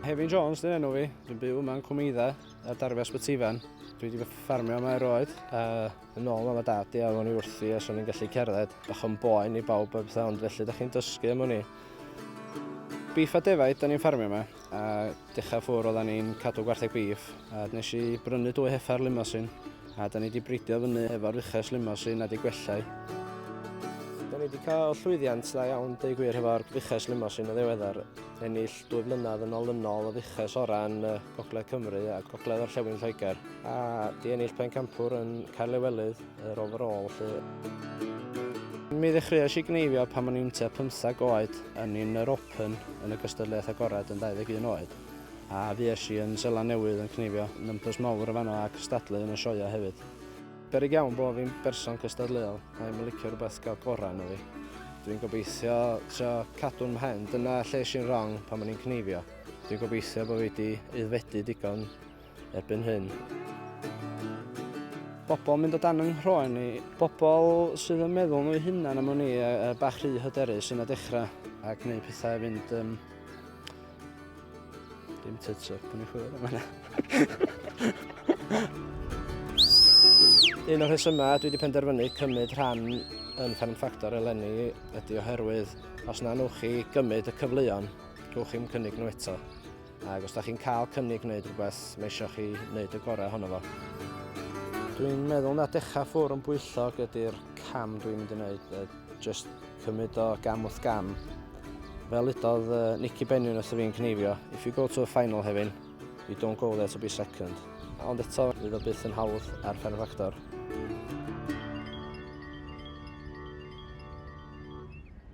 Hefin Jones dyn enw fi, dwi'n byw yma yn Cwmeidda, a darfu a Sbytifan. Dwi wedi ffarmio yma erioed, a yn ôl yma dad i a o'n i wrthi a swn i'n gallu cerdded bach yn boen i bawb a bethau, ond felly da chi'n dysgu am o'n i. Beef a defaid, da ni'n ffarmio yma, a Dechrau ffwr oeddan ni'n cadw gwartheg bîff a nes i brynu dwy heffa'r limosin a da ni wedi bridio fyny efo'r uchas limosin a di gwellau. Da ni wedi cael llwyddiant dda iawn deu gwir hefo'r fuches limosin y ddiweddar, ennill dwy flynedd yn olynol y fuches orau yn Gogledd Cymru a Gogledd Orllewin Lloegr a di ennill pencampwr yn Caerlewelydd. Yr overall lle. Mi ddechreuais i gneifio pan o'n i'n tua 15 oed yn un yr Open yn y gystadleuaeth agored yn 21 oed, a fues i yn Seland Newydd yn cneifio numbers mawr yn fan'no a cystadlu yn y sioeau hefyd. Beryg iawn bo' fi'n berson cystadleuol, mae'n yn licio rhywbeth gael gorau ynddo fi. Dwi'n gobeithio trio cadw'n mhen, dyna lle es i'n wrong pan o'n i'n cneifio. Dwi'n gobeithio bo' fi 'di aeddfedu digon erbyn hyn. Bobl yn mynd o dan yng nghroen ni. Bobl sydd yn meddwl nhw'u hunan am ni a, a bach rhy hyderus yn y dechrau. Ac neu pethau fynd... Um, dim tits up yn ei chwilio am yna. Un o'r rhesymau dwi wedi penderfynu cymryd rhan yn Fferm Ffactor eleni ydy oherwydd os na nwch chi gymryd y cyfleon, rhywch chi'n cynnig nhw eto. Ac os da chi'n cael cynnig wneud rhywbeth, mae eisiau chi wneud y gorau honno fo. Dwi'n meddwl na dechrau ffwr yn bwyllog ydy'r cam dwi'n mynd i wneud, uh, just cymryd o gam wrth gam. Fel udodd uh, Nicky Bennion wrth y fi'n cneifio, if you go to a final hefyn, you don't go there to be second. Ond eto, fydd o byth yn hawdd ar Fferm Factor.